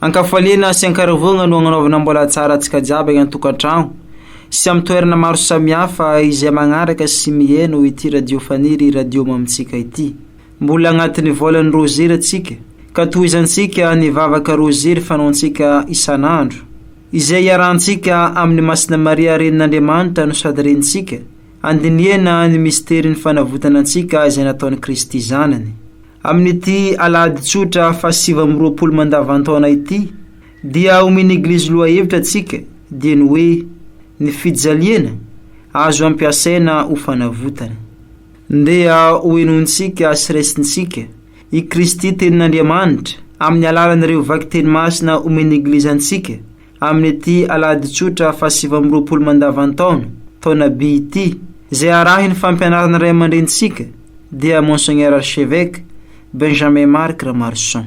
Ankafaliana sy ankaravoagna no agnanaovana mbola tsara antsika jiaby agny an-tokantragno sy amin'ny toerana maro samihafa izay magnaraka sy miheno ity radio faniry radio mamintsika ity. Mbola agnatin'ny volan'ny Rozira antsika ka tohizantsika ny vavaka Rozira fanaontsika isan'andro. Izay iarahantsika amin'i Masina Maria Renin'Andriamanitra no sady Renintsika, handinihana ny misterin'ny fanavotana antsika izay nataon'i Kristy Zanany. Amin'ity Alahady tsotra fahasivy amby roapolo mandavan-taona ity, dia omen'ny Eglizy lohahevitra antsika, dia ny hoe, Ny fijaliana, azo ampiasaina ho fanavotana. Ndeha hohenointsika sy raisintsika I Kristy Tenin'Andriamanitra, amin'ny alalan'ireo vakiteny masina omen'ny Eglizy antsika, amin'ity Alahady Tsotra fahasivy amby roapolo mandavan-taona, taona Bi ity, izay arahin'ny fampianaran'ny Ray aman-drenintsika, dia Monseigneur Archevêque Benjamin Marc Ramarison.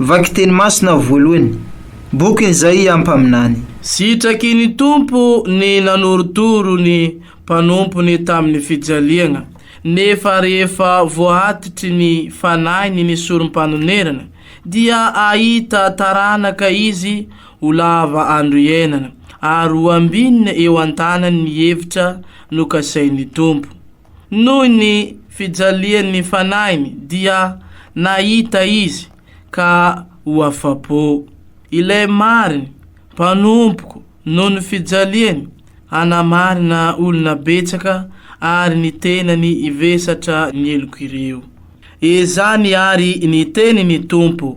Vaky teny masina voalohany. Bokiny Izaia mpaminany. Sitraky ny Tompo ny nanorotoro ny mpanompony tamin'ny fijaliana, nefa rehefa voaatitry ny fanahiny ny Sorompanonerana, dia hahita taranaka izy ho lava andro iainana, ary ho ambinina eo an-tanany ny hevitra nokasain'ny Tompo. Noho ny fijalian' ny fanahiny dia nahita izy ka ho afa-po. Ilay mariny, mpanompoko, noho ny fijaliany, hanamarina olona betsaka ary ny tenany hivesatra ny heloko ireo. Ezany ary ny tenin' ny Tompo,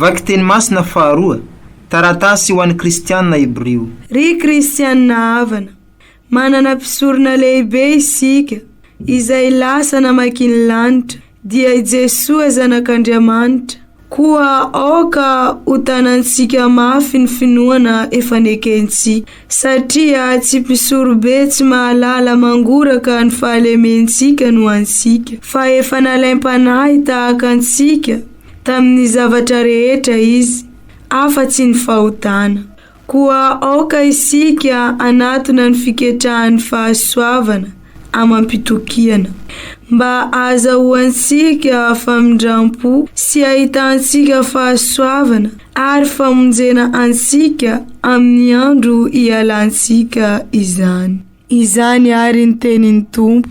Vakiteny masina faharoa, Taratasy ho an'ny Kristianina Hebrio. Ry Kristianina havana, manana Mpisorona lehibe isika, izay lasa namaky ny lanitra, dia i Jesoa Zanak'Andriamanitra. Koa aoka hotanantsika mafy ny finoana efa nekentsika, satria tsy mpisorobe tsy mahalala mangoraka ny fahalementsika no antsika, fa efa nalaim-panahy tahaka antsika tamin'ny zavatra rehetra Izy, afa-tsy ny fahotana. Koa aoka isika hanatona ny fiketrahan'ny fahasoavana amam-pitokiana, mba hahazahoantsika famindrampo sy hahitantsika fahasoavana ary famonjena antsika amin'ny andro hialantsika izany. Izany àry ny tenin'ny Tompo.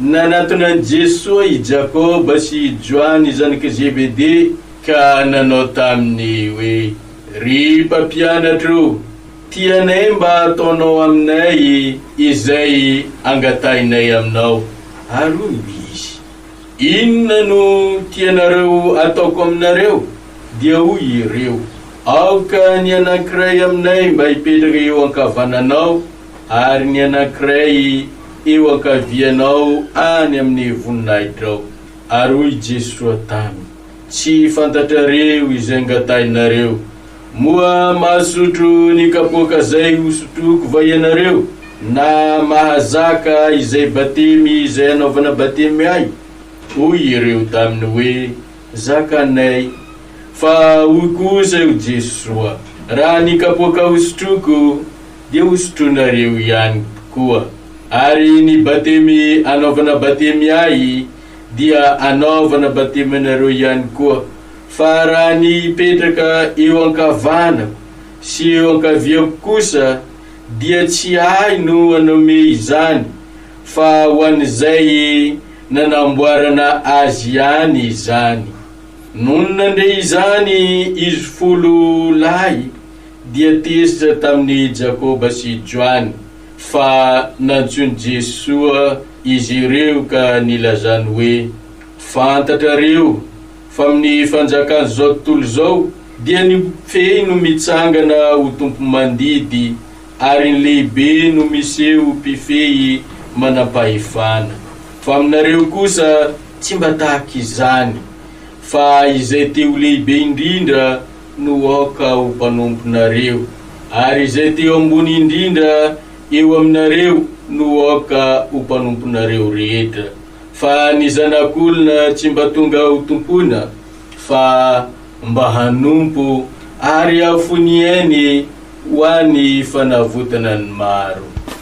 Nanatona an'i Jesoa i Jakoba sy i Joany zanak'i Zebede ka nanao taminy hoe, Ry Mpampianatro, tianay mba hataonao aminay izay angatahinay aminao. Ary hoy izy, Inona no tianareo hataoko aminareo? Dia hoy ireo, Aoka ny anankiray aminay mba hipetraka eo ankavananao Ary ny anankiray eo ankavianao any amin'ny voninahitrao. Ary hoy Jesoa taminy, Tsy fantatrareo izay ngatahinareo. Moa mahasotro ny kapoaka zay hosotroiko va ianareo, na mahazaka izay batemy izay hanaovana batemy ahy? Hoy ireo taminy hoe, Zakanay. Fa hoy kosa io Jesoa, Raha ny kapoaka hosotroiko, dia ho sotroinareo ihany koa. Ary ny batemy anaovana batemy ahy dia anaovana batemy anareo ihany koa, fa raha ny hipetraka eo ankavanako sy eo ankaviako kosa, dia tsy ahy no hanome izany, fa ho an'izay nanamboarana azy ihany izany. Nony nandre izany izy folo lahy, dia tezitra tamin'i Jakoba sy Joany fa nantsoin'i Jesoa izy ireo ka nilazany hoe, Fantatrareo fa amin'ny fanjakan'izao tontolo izao dia ny mifehy no mitsangana ho tompomandidy ary ny lehibe no miseho mpifehy manam-pahefana, fa aminareo kosa tsy mba tahaka izany, fa izay te ho lehibe indrindra no aoka ho mpanomponareo, ary izay teo ambony indrindra eo aminareo no aoka ho mpanomponareo rehetra, fa ny Zanak'olona tsy mba tonga hotompoina, fa mba hanompo, ary hafony ainy ho an'ny fanavotana ny maro.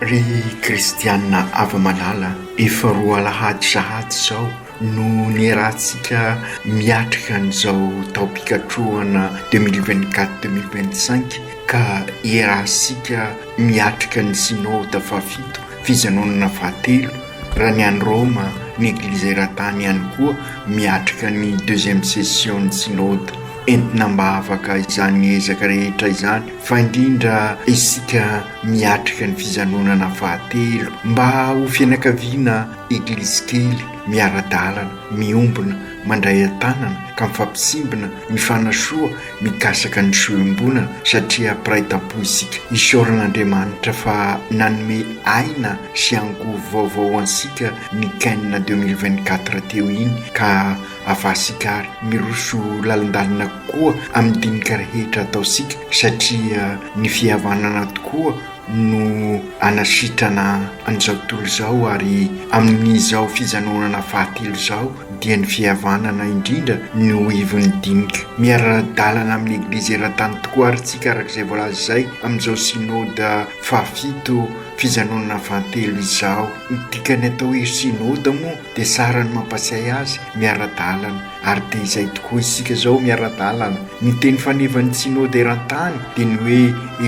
Ry kristianina afa-malala, efa roa alahady sahady izao no niarahantsika miatrika an'izao taom-pikatrohana deux mille vingt quatre deux mille vingt cinq ka iarahantsika miatrika ny Synode fahafito, fijanonana fahatelo, raha ny any Roma, ny Eglizy eran-tany ihany koa miatrika ny deuxième session-n'ny Synode, entina mba afaka izany ezaka rehetra izany. fa indrindra isika miatrika ny fijanonana fahatelo mba ho fianakaviana Eglizy kely miara-dalana, miombona, mandray an-tanana ka mifampisimbina, mifanasoa, mikasaka ny soa iombonana satria mpiray tampo isika. Isaoran'Andriamanitra fa nanome aina sy angovo vaovao antsika ny Ken deux mille vingt-quatre teo iny ka Avahasika àry hiroso lalindalina kokoa amin'ny dinika rehetra ataontsika, satria ny fihavanana tokoa no hanasitrana an'izao tontolo izao, ary amin'izao fijanonana fahatelo izao dia ny fihavanana indrindra no ho ivon'ny dinika. Miara-dalana amin'ny Eglizy eran-tany tokoa àry isika, araka izay voalaza izay, amin'izao Synoda fahafito fijanonana fahatelo izao. Ny dikan'ny atao hoe Synoda moa dia saran'ny mampatsiahy azy miara-dalana ary dia izay tokoa isika izao miara-dalana. Ny teny fanevan'ny Synode eran-tany dia ny hoe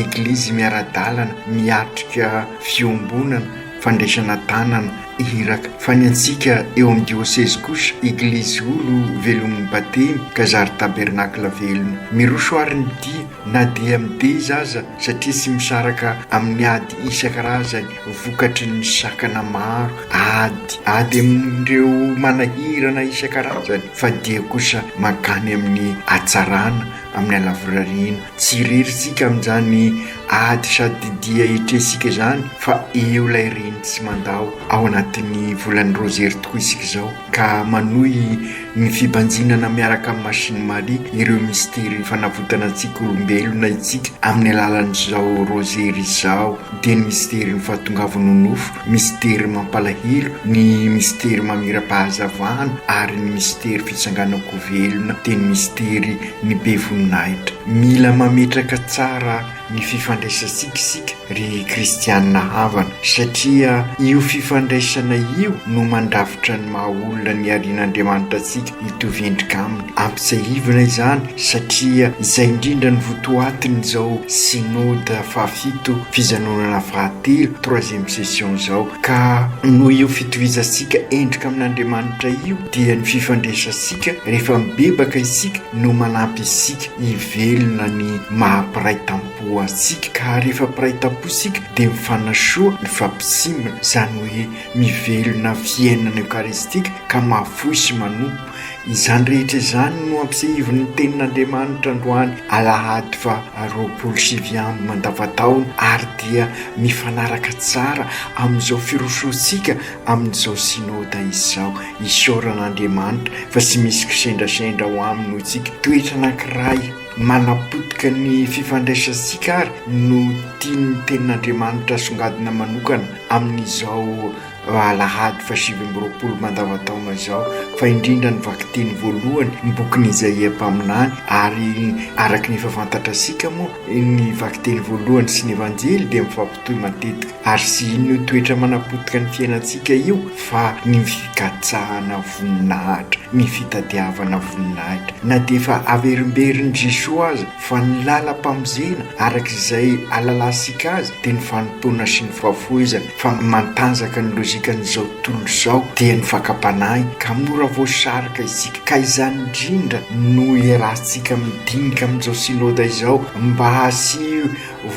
Eglizy miara-dalana miatrika fiombonana, fandraisana tanana, iraka. Fa ny antsika eo amin'ny diosezy kosa, Eglizy olo velomin'ny Batemy ka zary tabernakla velona. Miroso àry ny dia na dia mideza aza satria tsy misaraka amin'ny ady isan-karazany vokatry ny sakana maro, ady, ady amin'ireo manahirana isan-karazany fa dia kosa mankany amin'ny hatsarana, amin'ny halavorariana. Tsy irery isika amin'izany ady sady dia etresika izany fa eo ilay reny tsy mandao, ao anatin'ny volan'ny rozery tokoa isika izao. ka manohy ny fibanjinana miaraka amin'ny Masiny Maria ireo mistery fanavotana antsika olombelona isika amin'ny alalan'izao Rôzery izao, dia ny mistery ny fahatongavan'ny nofo, mistery mampalahelo, ny mistery mamira-pahazavana ary ny mistery fitsanganan-ko velona dia ny mistery ny be voninahitra. Mila mametraka tsara ny fifandraisantsika isika ry kristianina havana, satria io fifandraisana io no mandrafitra ny maha olona niharian'Andriamanitra antsika hitovy endrika aminy. Ampitsiahivina izany satria izay indrindra no votoatin'izao Synode fahafito fijanonana fahatelo, troisième session, izao, ka noho io fitovizantsika endrika amin'Andriamanitra io dia ny fifandraisantsika rehefa mibebaka isika no manampy isika hivelona ny maha-mpiray tampo antsika ka ary efa mpiray tampo isika dia mifanasoa, mifampisimbina, izany hoe mivelona fiainana eokaristika ka mahafoy sy manompo. Izany rehetra izany no ampisehivin'ny Tenin'Andriamanitra androany alahady faha roapolo sy sivy amby mandavan-taona ary dia mifanaraka tsara amin'izao firosoantsika amin'izao Synoda izao. Isaorana Andriamanitra fa tsy misy kisendrasendra ao Aminy ho tsika. Toetra anankiray manapotika ny fifandraisantsika àry no tian'ny Tenin'Andriamanitra asongadina manokana amin'izao Alahady fahasivy amby roapolo mandavantaona izao, fa indrindra ny vakiteny voalohany, ny bokin'i Izaia mpaminany, ary araka ny efa fantatrasika moa, ny vakiteny voalohany sy ny Evanjely dia mifampitohy matetika. Ary sy inona io toetra manapotika ny fiainantsika io fa ny fikatsahana voninahitra, ny fitadiavana voninahitra. Na dia efa averimberin'i Jesoa aza fa ny lalam-pamonjena araka izay alalansika azy dia ny fanompoana sy ny fahafoizana fa mantanjaka ny lojikan'izao tontolo izao dia ny fakam-panahy ka mora voasarika isika ka izany indrindra no iarahantsika midinika amin'izao Synoda izao mba hasiho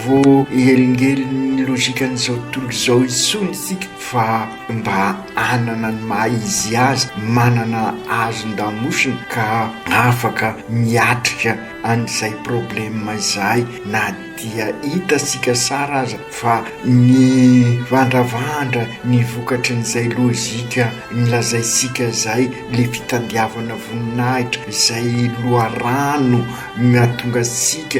voahelingelin'ny logikan'izao tontolo izao intsony isika fa mba hanana ny maha izy azy, manana hazon-damosina ka afaka miatrika an'izay problema izay na dia hitantsika sara aza fa mivandravandra ny vokatry an'izay logika nolazaintsika izay, ilay fitandiavana voninahitra izay loharano mahatonga antsika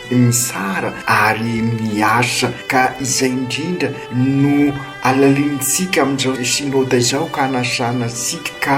mitsara ary miasa ka izay indrindra no alalinintsika amin'izao Synoda izao ka anasana antsika ka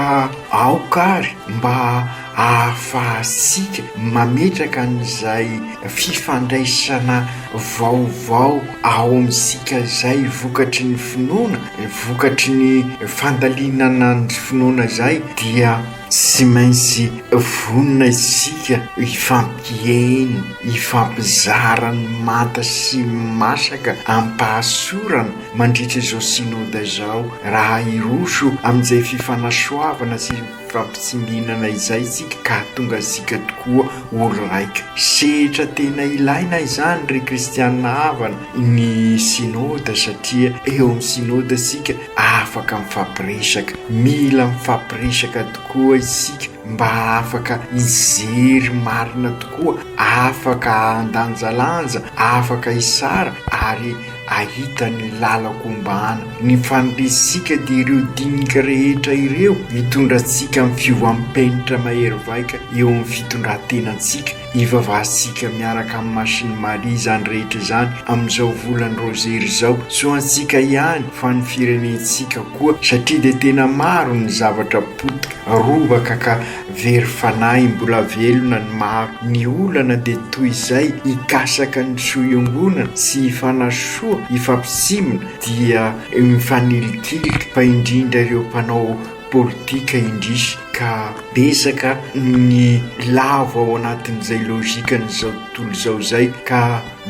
aoka ary mba ahafahantsika mametraka an'izay fifandraisana vaovao ao amintsika izay vokatry ny finoana, vokatry ny fandalinana ny finoana izay dia. Tsy maintsy vonona isika hifampiheno, hifampizara ny manta sy masaka amim-pahasorana mandritra izao Synoda izao, raha hiroso amin'izay fifanasoavana sy fifampitsiminana izay isika ka hahatonga antsika tokoa ho raika. Sehatra tena ilaina izany, ry kristiana havana, ny Synoda, satria eo amin'ny Synoda isika Afaka mifampiresaka, mila mifampiresaka tokoa isika mba afaka hijery marina tokoa, afaka handanjalanja, afaka hisara ary hahita ny lalako ombàna. Ny faniriantsika dia ireo dinika rehetra ireo hitondra antsika amin'ny fiovam-penitra mahery vaika eo amin'ny fitondran-tenantsika Ivavahantsika miaraka amin'ny Masin'i Maria izany rehetra izany amin'izao volan'ny Rozery izao. Tsy ho antsika ihany fa ny firenentsika koa satria dia tena maro ny zavatra potika, robaka ka very fanahy mbola velona ny maro. Ny olana dia toy izay hikasaka ny soa iongonana sy hifanasoa, hifampitsimoana dia mifanilikilika fa indrindra ireo mpanao politika indrisy ka betsaka ny lavo ao anatin'izay logikan'izao tontolo izao izay ka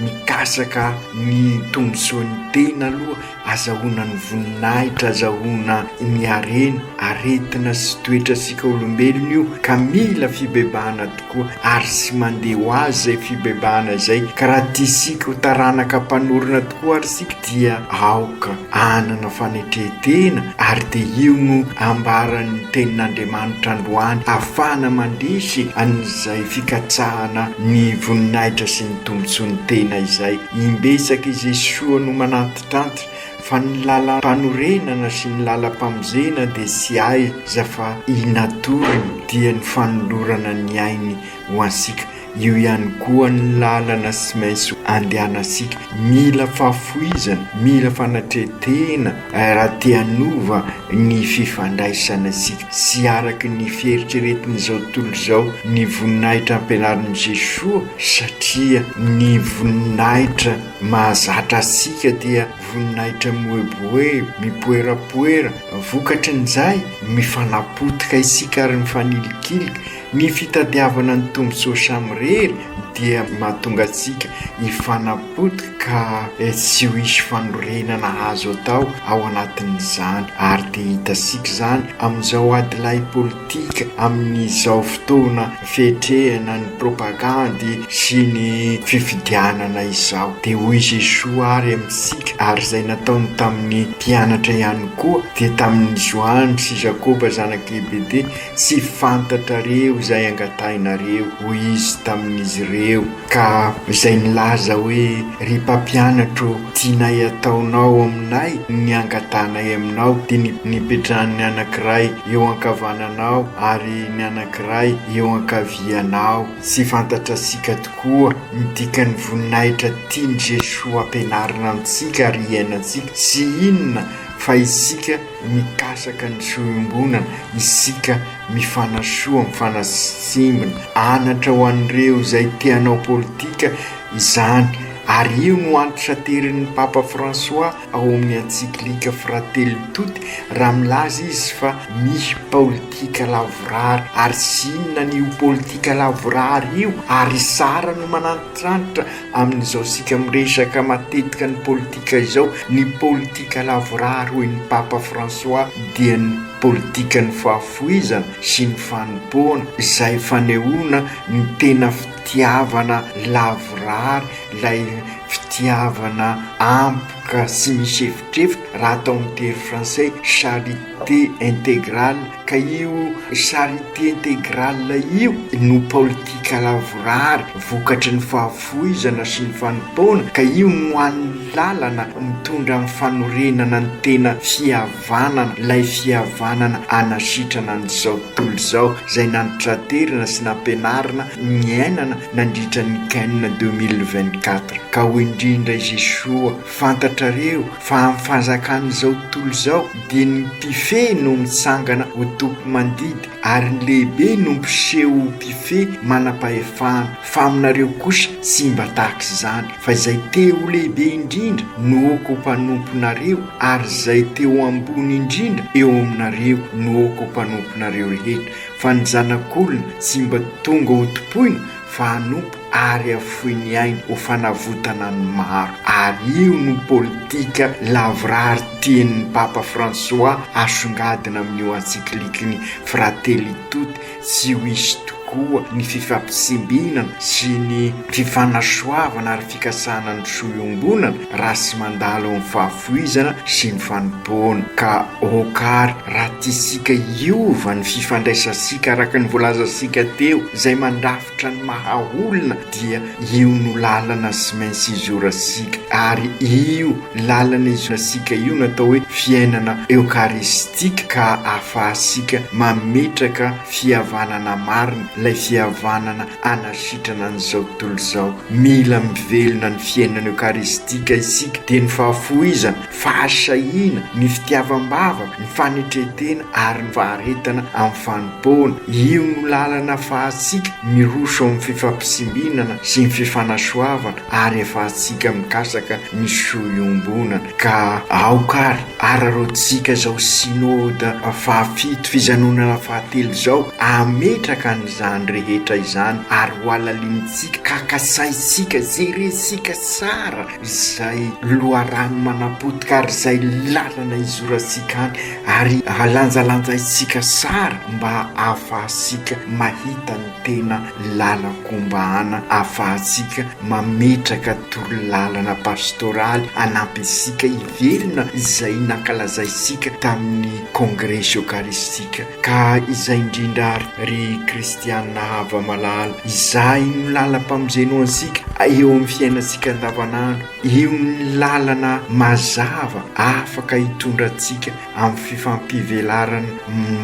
mikasaka ny tombontsoan'ny tena aloha, azahoana ny voninahitra, azahoana ny harena, aretina sy toetra antsika olombelona io ka mila fibebahana tokoa. ko ary tsy mandeha ho azy izay fibebahana izay ka raha tia isika ho taranaka mpanorina tokoa ary isika dia aoka hanana fanetre-tena ary dia io no ambaran'ny tenin'Andriamanitra androany afahana mandresy an'izay fikatsahana ny voninahitra sy ny tombotsoan'ny tena izay imbetsaka i Jesoa no manantitrantitra Fa ny lalam-panorenana sy ny lalam-pamonjena dia tsy aiza fa i natory no dia ny fanolorana ny ainy ho antsika. Io ihany koa ny lalana tsy maintsy andehanantsika. Mila fahafoizana, mila fanatretena raha te hanova ny fifandraisana antsika. Tsy araka ny fieritreretin'izao tontolo izao ny voninahitra ampianarin'i Jesoa satria ny voninahitra. Mahazatra antsika dia voninahitra mihoebohebo, mipoerapoera. Vokatry ny izay, mifanapotika isika ary mifanilikilika. Ny fitadiavana ny tombontsoa samirery dia mahatonga antsika hifanapotika ka tsy ho hisy fanorenana azo atao ao anatin'izany ary dia hitantsika izany amin'izao adilahy politika amin'izao fotoana fetrehana ny propagandy sy ny fifidianana izao. Dia hoy Jesoa ary amintsika, ary izay nataony tamin'ny mpianatra ihany koa, dia tamin'i Joany sy Jakoba zanak'i Gebede, Tsy fantatrareo izay angatahinareo, hoy Izy tamin'izy ireo. Ka izay milaza hoe, Ry Mpampianatra ô, tianay hataonao aminay ny angatahanay aminao, dia ny nipetrahan'ny anankiray eo ankavananao ary ny anankiray eo ankavianao. Tsy fantatrasika tokoa ny dikan'ny voninahitra tian'i Jesoa hampianarina antsika ary hiainantsika, sy inona fa isika Mikasaka ny soa iombonana isika mifanasoa mifanasimbina. Anatra ho an'ireo izay te hanao politika izany ary io no anti-saterin'ny Papa François ao amin'ny Encyclique Fratelli Tutti raha milaza izy fa mihi paolitika lavorary ary zinona ny io politika lavorary io ary zara no manantitrantitra Amin'izao isika miresaka matetika ny politika izao, ny politika lavorary hoy ny Papa François dia ny politikan'ny fahafoizana sy ny fanompoana izay fanehoana ny tena fitiavana lavorary, ilay fitiavana ampoka sy misy efitrefitra, raha atao amin'ny teny frantsay charité intégrale. Ka io charite integrale io no politika lavorary vokatry ny fahafoizana sy ny fanompoana, ka io no ho an'ny lalana mitondra amin'ny fanorenana ny tena fihavanana, ilay fihavanana hanasitrana an'izao tontolo izao, izay nantraterina sy nampianarina niainana nandritra ny Ken deux mille vingt-quatre. Ka hoy indrindra i Jesoa Fantatrareo fa amin'ny fanjakan'izao tontolo izao dia ny mpifehy no mitsangana ho tompo-mandidy ary ny lehibe no mpiseho ho mpifehy manam-pahefana fa aminareo kosa tsy mba tahaka izany fa izay te ho lehibe indrindra no oko mpanomponareo ary izay te ho ambony indrindra eo aminareo no oko mpanomponareo rehetra fa ny zanak'olona tsy mba tonga hotompoina fa hanompo ary hafoy ny ainy ho fanavotana ny maro ary io no politika lavorary tian'ny Papa François asongadina amin'io encyclique-ny Fratelli Tutti tsy ho hisy tokoa ny fifampitsimbinana sy ny fifanasoavana ary fikasana ny soa iombonana raha tsy mandalo ny fahafoizana sy ny fanompoana. Ka ok ary raha tiantsika hiova ny fifandraisantsika araka ny voalazantsika teo, izay mandrafitra ny maha olona dia io no lalana tsy maintsy hizorantsika. Ary io lalana hizorantsika io no atao hoe fiainana eokaristika ka ahafahantsika mametraka fihavanana marina, ilay fihavanana anasitrana an'izao tontolo izao. Mila mivelona ny fiainana eokaristika isika, dia ny fahafoizana, fahasahiana, ny fitiavam-bavaka, ny fanetren-tena ary ny faharetana amin'ny fanompoana. Io no lalana afahantsika miroso amin'ny fifampisimbinana sy ny fifanasoavana ary afahantsika mikasaka ny soa iombonana. Ka aoka ary araraotsika izao Synode fahafito, fijanonana fahatelo izao, hametraka an'izany rehetra izany ary hohalalinintsika ka kasaintsika, jerentsika tsara izay loharano manapotika ary izay lalana izorantsika any ary lanjalanjaintsika tsara mba hahafahantsika mahita ny. Tena lalan-kombahana ahafahantsika mametraka torolalana pastoraly hanampy antsika hivelona izay nankalazaintsika tamin'ny Kongresy Eokaristika. Ka izay indrindra àry, ry kristiana hava-malala, izay no lalam-pamonjena ho antsika eo amin'ny fiainantsika andavanandro. Io ny lalana mazava afaka hitondra antsika amin'ny fifampivelarana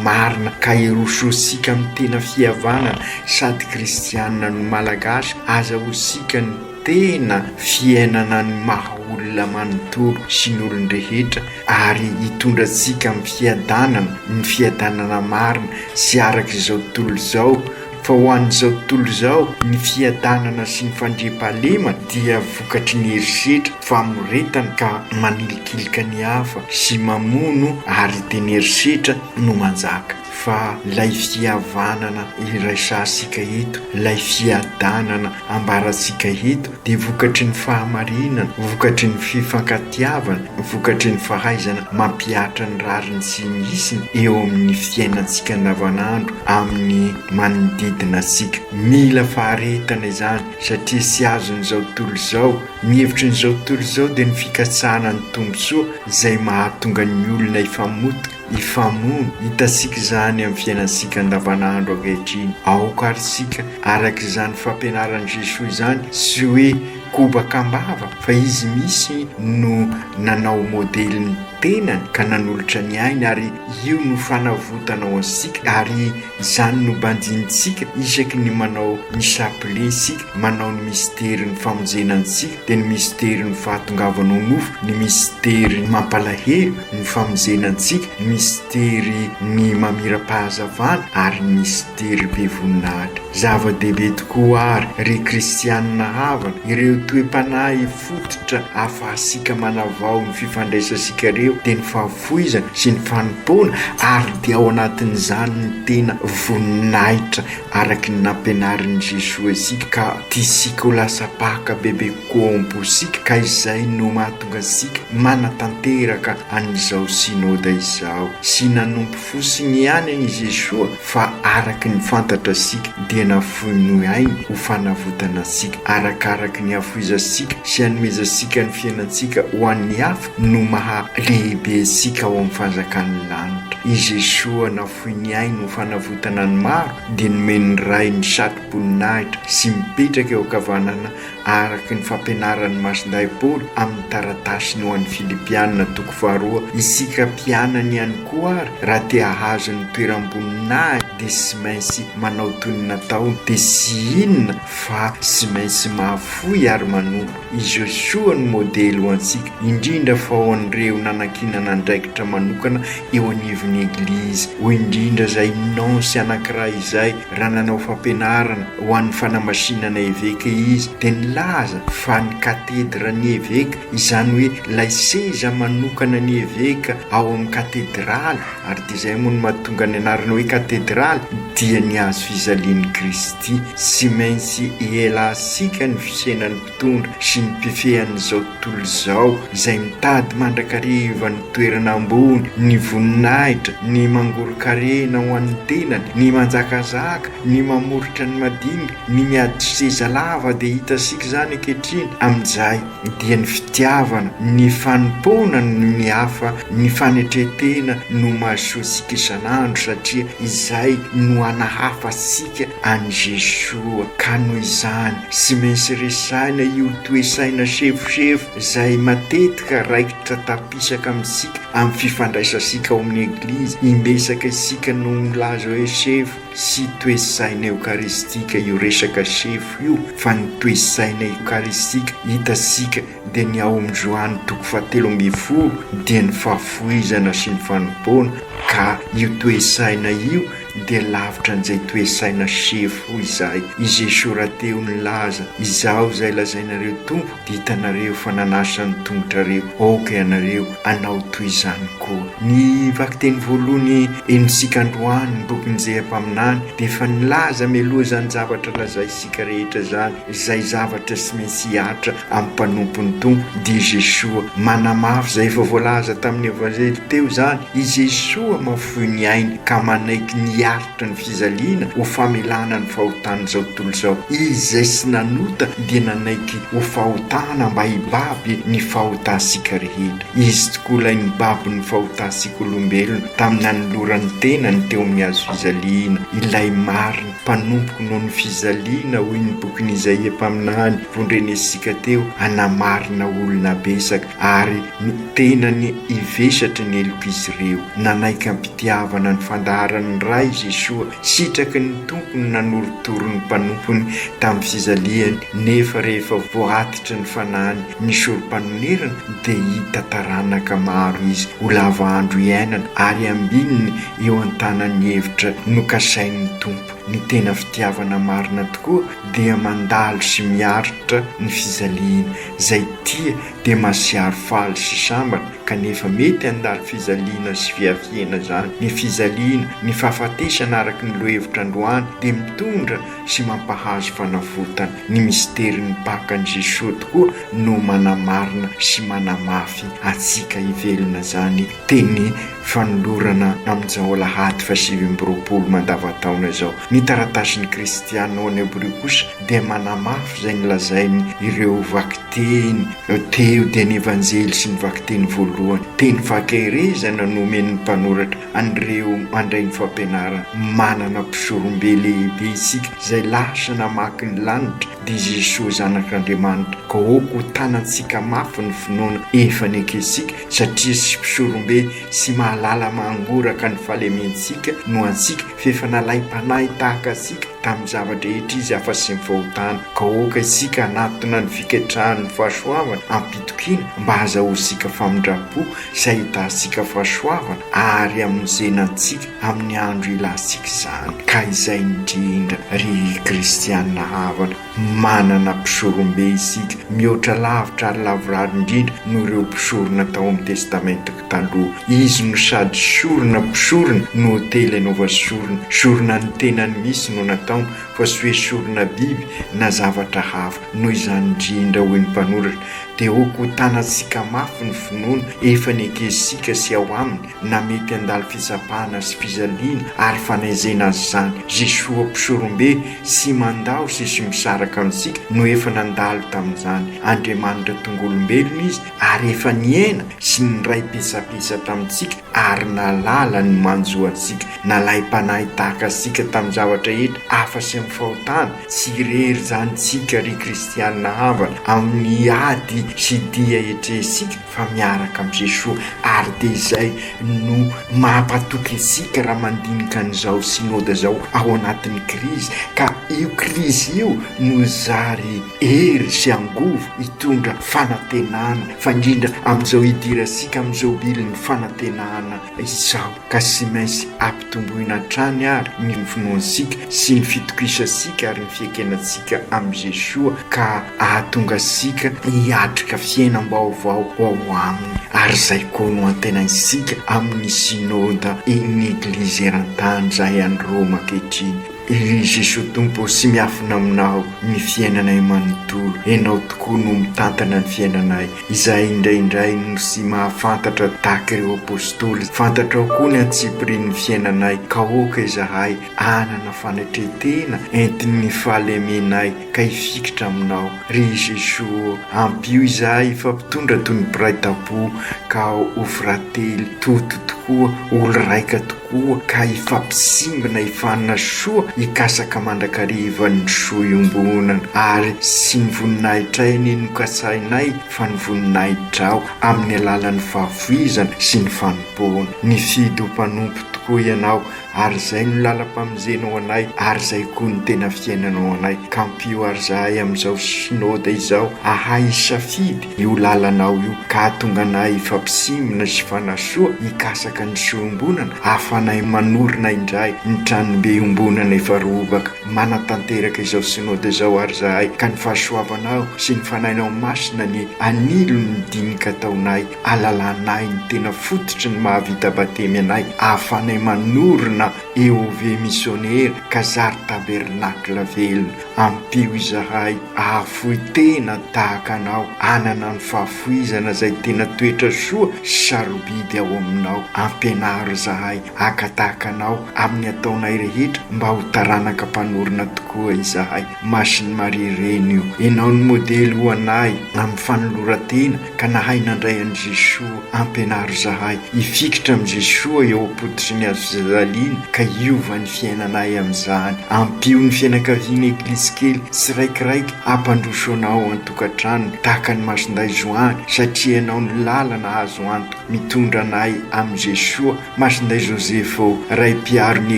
marina ka hirososika amin'ny tena fihavana sady kristianina no Malagasy, aza hosika ny tena fiainana ny maha olona manontolo sy ny olon-drehetra ary hitondra antsika amin'ny fiadanana, ny fiadanana marina sy araka izao tontolo izao. Fa ho an'izao tontolo izao, ny fiadanana sy ny fandriampahalemana dia vokatry ny herisetra, famoretana ka manilikilika ny hafa sy mamono ary dia ny herisetra no manjaka. Fa ilay fihavanana iraisantsika eto, ilay fiadanana ambarantsika eto dia vokatry ny fahamarinana, vokatry ny fifankatiavana, vokatry ny fahaizana mampihatra ny rariny sy ny hisiny eo amin'ny fiainantsika andavanandro amin'ny manodidina antsika. Mila faharetana izany satria tsy azon'izao tontolo izao. Ny hevitry ny izao tontolo izao dia ny fikatsahana ny tombontsoa izay mahatonga ny olona hifamotika. hifamono, hitantsika izany amin'ny fiainantsika andavanandro ankehitriny. Aoka àry isika araka izany fampianaran'i Jesoa izany, tsy hoe kobaka am-bava, fa Izy mihitsy no nanao modely ny tenany ka nanolotra ny ainy ary io no fanavotanao antsika ary Izany no banjinintsika isaky ny manao ny chapelet isika, manao ny misterin'ny famonjena antsika, dia ny misterin'ny fahatongavana ho nofo, ny misterin'ny mampalahelo, ny famonjena antsika, ny misterin'ny mamirampahazavana ary ny misterin'ny be voninahitra. Zava-dehibe tokoa àry, ry kristianina havana, ireo toe-panahy fototra ahafahantsika manavao ny fifandraisantsika ireo, dia ny fahafolon'ny foizana sy ny fanompoana ary dia ao anatin'izany ny tena voninahitra araky ny nampianarin'i Jesoa isika ka tiantsika ho lasa mpaka bebe kokoa ao am-posika ka izay no mahatonga antsika manatanteraka an'izao Synoda izao sy nanompo fosiny ihany an' i Jesoa fa araky ny fantatra isika dia nafoiny noho ainy ho fanavotana antsika arakaraky ny hafoizantsika sy hanomezantsika ny fiainantsika ho an'ny hafa no maha lehibe antsika ao amin'ny fanjakan'ny lanitra. I Jesoa nafoy ny ainy ho fanavotana ny maro dia nomen'ny Ray ny satroboninahitra sy mipetraka eo ankavanana araka ny fampianaran'ny Masindahy Paoly amin'ny taratasiny ho an'ny Filipiana toko faharoa Isika mpianany ihany koa ary raha te hahazo ny toeram-boninahitra dia tsy maintsy manao toy ny nataony dia tsy inona fa tsy maintsy mahafoy ary manompo Izy io soa no modely ho antsika, indrindra fa ho an'ireo nanankinana andraikitra manokana eo anivon'ny Eglizy, hoy indrindra izay nonce anankiray izay, raha nanao fampianarana ho an'ny fanamasinana eveka izy, dia nilaza fa ny katedran'ny eveka, izany hoe ilay seza manokanan'ny eveka ao amin'ny katedraly, Ary dia izay moa no mahatonga ny anarana hoe katedraly dia ny hazo fijalian'i Kristy. Tsy maintsy ialansika ny fisenan'ny mpitondra sy ny mpifehy an'izao tontolo izao izay mitady mandrakariva ny toerana ambony, ny voninahitra, ny mangoron-karena ho an'ny tenany, ny manjakazaka, ny mamoritra ny madinika, ny miady seza lava dia hitantsika izany ankehitriny amin'izay. dia ny fitiavana, ny fanompoana ny hafa, ny fanetren-tena no mahasoa antsika isan'andro satria izay no hanahafa antsika an'i Jesoa. Ka noho izany, tsy maintsy resahina io toe-tsaina sefosefo izay matetika raikitra tampisaka amintsika amin'ny fifandraisantsika ao amin'ny Eglizy. Imbetsaka isika no milaza hoe sefo. Tsy toe-tsaina eokaristika io resaka sefo io fa ny toe-tsaina eokaristika hitantsika dia ny ao amin'ny Joany toko fahatelo ambin'ny folo dia ny fahafoizana sy ny fanompoana ka io toe-tsaina io dia lavitra an'izay toe-tsaina sefo izay i Jesoa rahateo nilaza izaho izay lazainareo Tompo Hitanareo fa nanasa ny tongotrareo, aoka ianareo hanao toy izany koa. Ny vakiteny voalohany henontsika androany, ny bokin'ny Njehy Mpaminany, dia efa nilaza mialoha izany zavatra lazaintsika rehetra izany, izay zavatra tsy maintsy hihatra amin'ny mpanompon'ny Tompo, dia Jesoa. Manamafy izay efa voalaza tamin'ny Evanjely teo izany, i Jesoa mahafoy ny ainy ka manaiky ny hihatra. Mihoatra ny fijaliana ho famelana ny fahotan'izao tontolo izao, izay tsy nanota dia nanaiky ho fahotana mba hibaby ny fahotantsika rehetra. Izy tokoa ilay nibaby ny fahotantsika olombelona tamin'ny nanolorany tenany teo amin'ny hazo fijaliana, ilay marina mpanompoko noho ny fijaliana hoy ny bokin'i Izaia mpaminany, vondrenentsika teo, hanamarina olona betsaka. ary ny tenany hivesatry ny helok'izy ireo. Nanaiky am-pitiavana ny fandaharan'ny Ray i Jesoa. Sitraky ny Tompo ny nanorotoro ny mpanompony tamin'ny fizalihany, nefa rehefa voatitry ny fanahiny ny Sorompanonirana, dia hita taranaka maro izy ho lava andro iainana ary ambininy eo an-tanan'ny hevitra nokasain'ny Tompo. Ny tena fitiavana marina tokoa dia mandalo sy miaritra ny fijaliana. Izay tia dia masiaro faly sy sambatra, kanefa mety handalo fijaliana sy fiafiana izany. Ny fijaliana, ny fahafatesana araka ny lohevitra androany dia mitondra sy mampahazo fanavotana. Ny misterin'ny Paka an'i Jesoa tokoa no manamarina sy manamafy antsika hivelona izany teny Fanolorana amin'izao alahady fahasivy amby roapolo mandava-taona izao. Ny taratasin'ny Cristiano ao Neobrio kosa dia manamafy izay nolazainy ireo vakiteny teo dia ny Evanjely sy ny vakiteny voalohany, teny fahakeherezana no omen'ny mpanoratra an'ireo mandray ny fampianarana, manana mpisorombe lehibe isika izay lasa namaky ny lanitra dia Jesoa Zanak'Andriamanitra, koa hotanantsika mafy ny finoana efa nekentsika Satria tsy mpisorombe sy mahalala mangoraka ny fahalementsika no antsika, f'efa nalaim-panahy tahaka antsika tamin'ny zava-drehetra Izy afa-tsy ny fahotana. Ka aoka isika hanatona ny fiketrahan'ny fahasoavana am-pitokiana, mba hahazahoantsika famindram-po sy hahitantsika fahasoavana àry hamonjena antsika amin'ny andro ilantsika izany. Ka izay indrindra, ry kristiana havana! Manana mpisorombe isika mihoatra lavitra ary lavorary indrindra noho ireo mpisorona tao amin'ny Testamentako Taloha. Izy no sady sorona mpisorona no otely anaova sorona. Sorona ny tenany mihitsy no nataony fa tsy hoe sorona biby na zavatra hafa. Noho izany indrindra, hoy ny mpanoratra, dia hokotanantsika mafy ny finoana efa nekesintsika sy ao aminy na mety handalo fitsapana sy fijaliana ary fanenjehina aza izany, Jesoa Mpisorombe tsy mandao sy tsy misaraka amintsika no efa nandalo tamin'izany, Andriamanitra tonga olombelona Izy ary efa nihena sy niray petsapetsa tamintsika ary nahalala ny manjo antsika, nalahy mpanahy tahaka antsika tamin'ny zavatra rehetra afa tsy amin'ny fahotana, tsy irery izany tsika ry kristianina havana amin'ny ady sy dia etrehintsika, fa miaraka amin'i Jesoa ary dia izay no mampatoky antsika raha mandinika an'izao Synode izao ao anatin'ny krizy ka io krizy io no zary hery sy angovo hitondra fanantenana fa indrindra amin'izao hidirantsika amin'izao bilin'ny fanantenana Izaho ka sy mainsy ampitomboina hatrany ary ny finoantsika sy ny fitokisantsika ary ny fiekenantsika amin'i Jesoa ka hahatonga antsika hiatrika fiainam-baovao ho ao Aminy ary izay koa no antenaintsika amin'ny Synode ny Eglizy eran-tany izay any Roma ankehitriny. Ry Jesoa Tompo sy miafina aminao ny fiainanay manontolo, Ianao tokoa no mitantana ny fiainanay. izay indraindray no sy mahafantatra tahaka ireo Apostoly, fantatrao koa ny antsipirian'ny fiainanay, kaoka izahay hanana fanetren-tena entin'ny fahalemenay ka hifikitra Aminao. Ry Jesoa ô, ampio izahay hifampitondra toy ny mpiray tampo ka ho frately, toto tokoa, olo-raika tokoa. Koa ka hifampisimbina hifanina soa hikasaka mandrakariva ny soa iombonana ary sy ny voninahitray ny nokasahinay fa ny voninahitrao amin'ny alalan'ny fahavoizana sy ny fanompoana. Nifidy ho mpanompo tokoa ianao ary izay no lalam-pamonjena ho anay ary izay koa no tena fiainana ho anay. Ka ampio ary izahay amin'izao Synode izao hahay hisafidy io lalanao io ka hahatonga anay hifampisimina sy hifanasoa, hikasaka ny soa iombonana, ahafanay manorina indray ny tranombe iombonana efa robaka, manatanteraka izao Synoda izao ary izahay, ka ny fahasoavanao sy ny Fanahinao Masina ny hanilo ny dinika ataonay, alalanay ny tena fototry ny mahavita batemy anay, ahafanay manorina EOV Misionera ka zary tabernacle velona. Ampio izahay ahafoy tena tahaka anao, hanana ny fahafoizana izay tena toetra soa sy sarobidy ao aminao. Ampianaro izahay haka tahaka anao amin'ny ataonay rehetra mba ho taranaka mpanorina tokoa izahay. Masin'i Maria Reny o. Ianao no modely ho anay amin'ny fanoloran-tena ka nahay nandray an'i Jesoa Ampianaro izahay hifikitra amin'i Jesoa eo am-pototry ny hazofijaliana ka hiova ny fiainanay amin'izany. Ampio ny fianakaviana Eglizy kely tsiraikiraiky hampandroso Anao ao an-tokantranony tahaka ny Masindahy Joany satria Ianao no lalana azo antoka mitondra anay amin'i Jesoa. Masindahy Joseph ô, Ray Mpiaro ny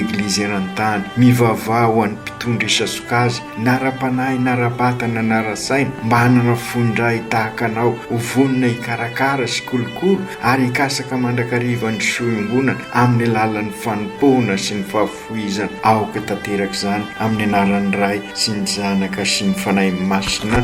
Eglizy eran-tany, mivavaha ho an'ny mpitondra isasok'azy, Nara-panahy, nara-batana, nara-saina mba hanana fon-dray tahaka anao ho vonona hikarakara sy hikolokolo ary hikatsaka mandrakariva ny soa iombonana amin'ny alalan'ny fanompoana sy ny fahafohizana. Aoka tanteraka izany amin'ny anaran'ny Ray sy ny Zanaka sy ny Fanahy Masina.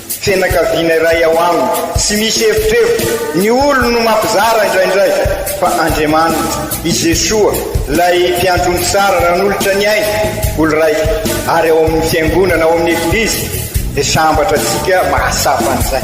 Tsy fianakaviana iray ao aminy. Tsy misy efitrevitra. Ny olony no mampizara indraindray. Fa Andriamaniny, i Jesoa, ilay Mpiandry omby tsara nanolotra ny ainy, olon-draika, ary ao amin'ny Fiangonana, ao amin'ny Eglizy, dia sambatra antsika mahatsapa an'izay.